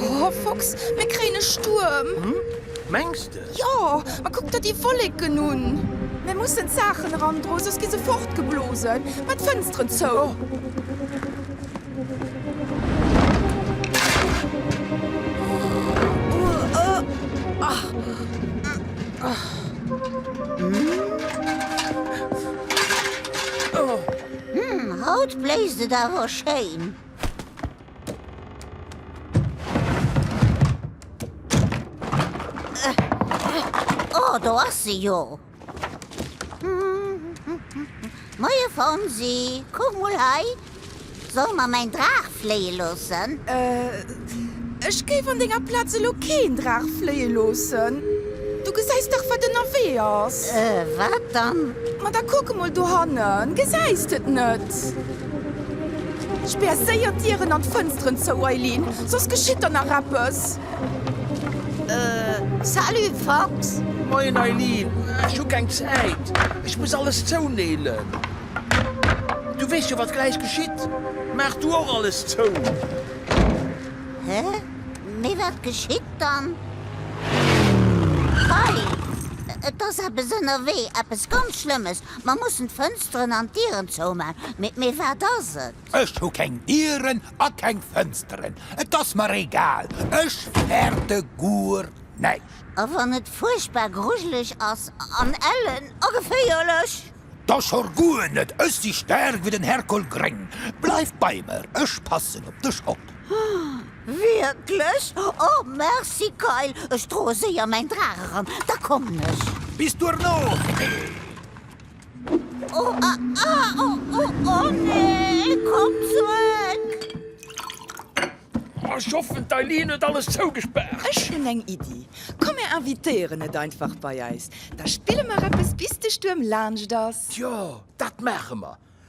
Oh Fox, mir kréien e Stuerm! Mengs de? Jo, ma kuck der déi Wolleken un! Mir mussen d'Saachen erandroen, soss gi se fortgeblosen. Mä d'Fënsteren zou! Haut bléist et awer schéin. Oh, do ass se jo. Moie Fonsi, kuck mol hei. Solle mer mäin Draach fléie loossen? Euh, ech géif an denger Plaz elo keen Draach fléie loossen. Du gesäis dach, wat ënnerwee ass. Euh, wat dann? Ma da kuck emol dohannen, gesäis de et net? Spär séier d'Dieren an d'Fënsteren zou, Eileen, soss geschitt der nach eppes. Salut Fox! Moien Eileen! Ech hu keng Zäit, ech muss alles zouneelen. Du weess jo, wat gläich geschitt. Maach du och alles zou! Hä? Mee wat geschitt dann? Hei! Et ass eppes ënnerwee, eppes ganz Schlëmmes. Mer mussen d'Fënsteren an d'Dieren zouman. Mee wat ass et? Ech hu keng Dieren a keng Fënsteren, et ass mer egal, ech fäerte guer näischt. A wann et fuerchtbar grujeleg ass an ellen a geféierlech? Da schorr guer net, ech si staark wéi den Herkol Gréng. Bleif bei mer, ech passen op dech op. Wierklech? O merci Kayl, ech droe séier mäin Draach eran, da kommen ech. Bis duerno, Fee. Oh, ah, ah, oh, oh, oh nee, komm zurück! Ech hoffen d'Eileen huet alles zougespaart. Ech hunn eng Iddi, komm mir invitéieren et einfach bei eis, da spille mer eppes bis de Stuerm laanscht ass. Tjo, dat maache mer.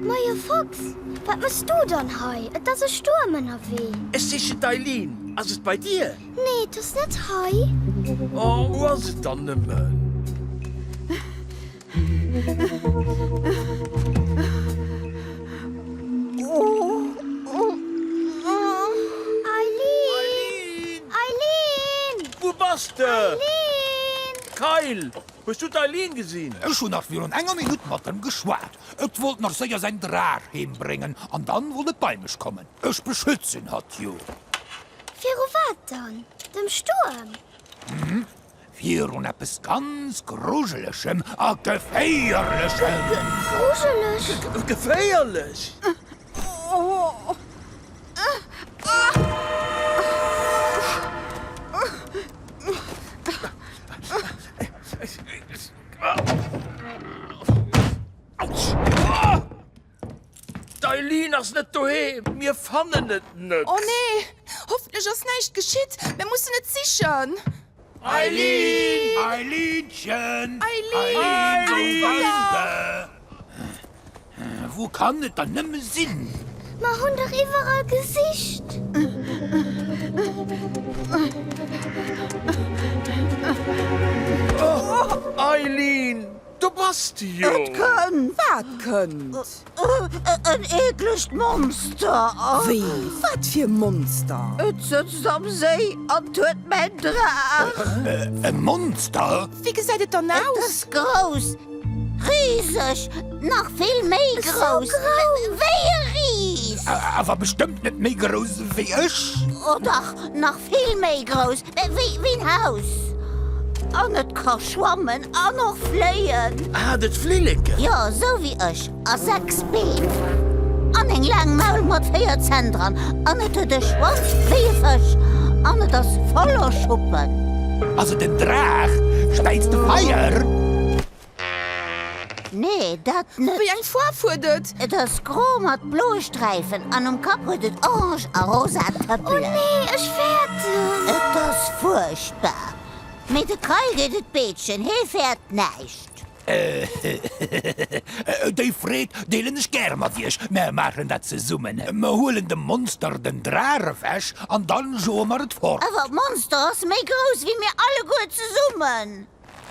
Moie Fox, wat mëchs du dann hei? Et ass e Stuerm ënnerwee. Ech sichen d'Eileen. Ass et bei dir? Nee, et ass net hei. Oh, wou ass et dann nëmmen? Eileen! Eileen! Eileen! Wou bass de? Eileen! Kayl, hues du d'Eileen gesinn? Ech hunn nach virun enger Minutt mat em geschwat. Et wollt nach séier säin Drach heembréngen an dann wollt et bei mech kommen. Ech beschützen hatt jo. Viru wat dann? Dem Stuerm? Hm, virun eppes ganz Grujelegem a Geféierlechem. Ge grujelech? Ge geféierlech! Autsch! D'Eileen ass net doheem, mir fannen et net. Oh nee, hoffentlech ass näischt geschitt, mir mussen et sichen. Eileen! Eileenchen! Eileen! Wou kann et dann nëmme sinn? Mer hunn dach iwwerall gesicht. Eileen! Do bass de jo! Et kënnt! Wat kënnt? En eeklegt Monster! Wéi? Wat fir e Monster? Et sëtzt am Séi an huet mäin Draach! E Monster? Wéi gesäit et dann aus? Et ass grouss! Riseg! Nach vill méi grouss wéi e Ris! Awer bestëmmt net méi grouss wéi ech! O dach, nach vill méi grouss Wéi en Haus. An et ka schwammen an och fléien. Hat et Flilleken? Jo, sou wéi ech. A sechs Been. An eng laang Maul mat véier Zänn dran. An et huet e Schwanz wéi e Fësch. An et ass voller Schuppen. Ass et en Draach? Späiz de Feier? Nee, dat net. Wéi eng Foarf huet et? Et ass gro mat bloe Sträifen an um Kapp huet et orange a rosa Tëppelen. Oh nee, ech fäerten. Et ass fuerchtbar. Mee de Kai geet et beetschen, hee fäert näischt. Déi Freed deelen ech gäre mat iech. Mär maachen dat zesummen. Mär huelen dem Monster den Drach ewech an dann joe mer et fort. Awer d'Monster ass méi grouss wéi mir alleguer zesummen.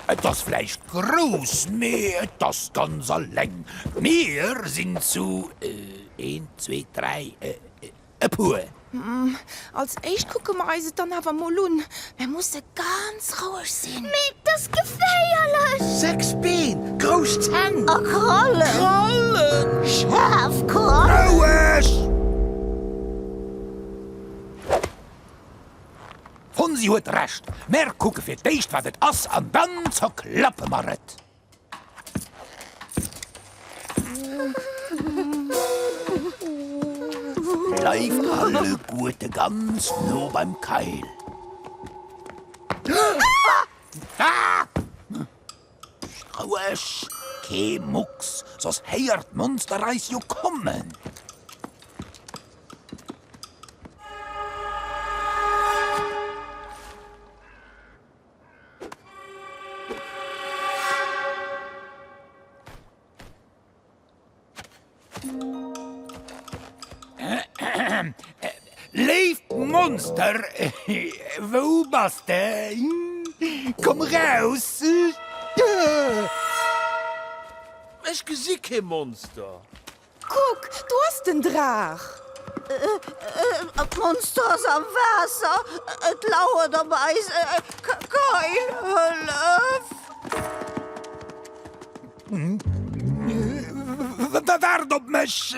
Et ass vläicht grouss, mee et ass ganz alleng. Mir sinn zu een, zwee, dräi, e puer. Als éischt kucke mer eis et dann awer emol un. Mer musse ganz roueg sinn. Mee et ass geféierlech! Sechs Been, grouss Zänn. A Krallen. Krallen! Schaarf Krallen! Roueg! D'Fonsi huet Recht, mär kucke fir d'éischt wat et ass an dann zerklappe mer et. Bleift alleguerte ganz no beim Keil. Roueg, kee Mucks, soss héiert d'Monster eis jo kommen! Léift Monster, wou bass de? Komm raus! Ech gesi kee Monster. Kuck, do ass den Draach! D'Monster ass am Waasser, et lauert op eis! Keil, hëllef! Waart op mech!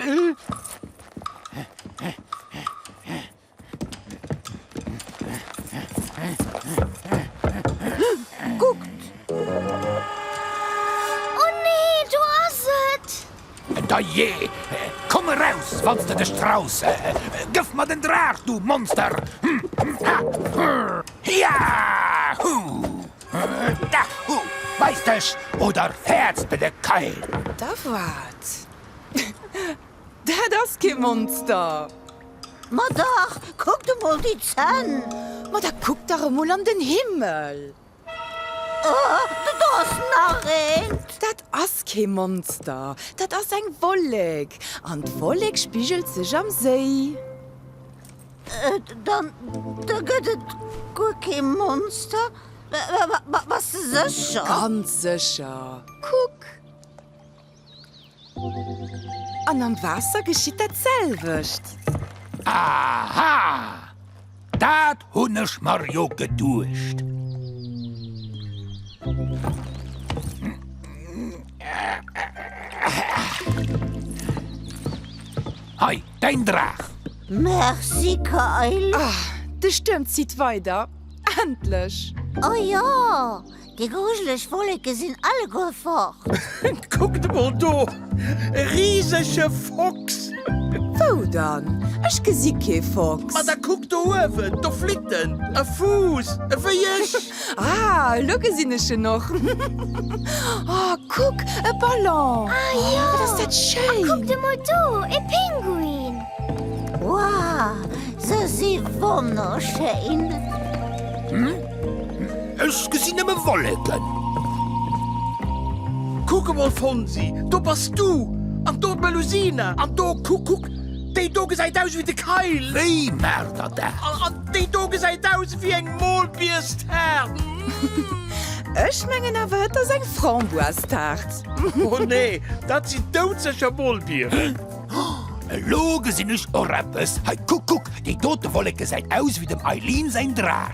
Kuckt! Oh nee, do ass et! Dajee! Komm eraus, wann s de dech traus! Gëff mer den Draach, du Monster! Hiahuu! Dahu! Weis dech, oder fäerts de de Keil! Da wat? Dat ass kee Monster! Ma dach! Kuckt emol déi Zänn! Ma da kuckt dach emol an den Himmel! Do ass nach eent! Dat ass kee Monster! Dat ass eng Wollek! An d'Wollek spigelt sech am Séi! Dann da gëtt et guer kee Monster? Bass de sécher? Ganz sécher! Kuck! An am Waasser geschitt dat selwecht. Aha! Dat hunn ech mer jo geduecht. Hei! Däin Draach! Merci Kayl! Ah, de Stuerm zitt weider, endlech! Oh jo, déi grujeleg Wolleke sinn alleguer fort! Kuckt emol do, e risege Fox! Wou dann? Ech gesi kee Fox! Ma da kuck do uewen, do flitt en! E Fuuss, ewéi ech! Ah, elo gesinn ech en och. Oh, kuck, e Ballon! Ah jo! Wat ass dat schéin! A kuckt emol do, e Pinguin! Wow, se si wonnerschéin! Ech gesinn nëmme Wolleken. Kuck emol, Fonsi, do bass du! An do d'Melusina! An do, kuck, kuck, déi do gesäit aus ewéi de Kayl! Wéi Märder, da! Déi do gesäit aus ewéi eng Molbierstaart! Ech mengen awer et ass eng Framboistaart. Oh nee, dat sinn doudsécher Molbieren! Elo gesinn ech och eppes, hei kuck kuck, déi dote Wollek gesäit aus ewéi dem Eileen säin Drach.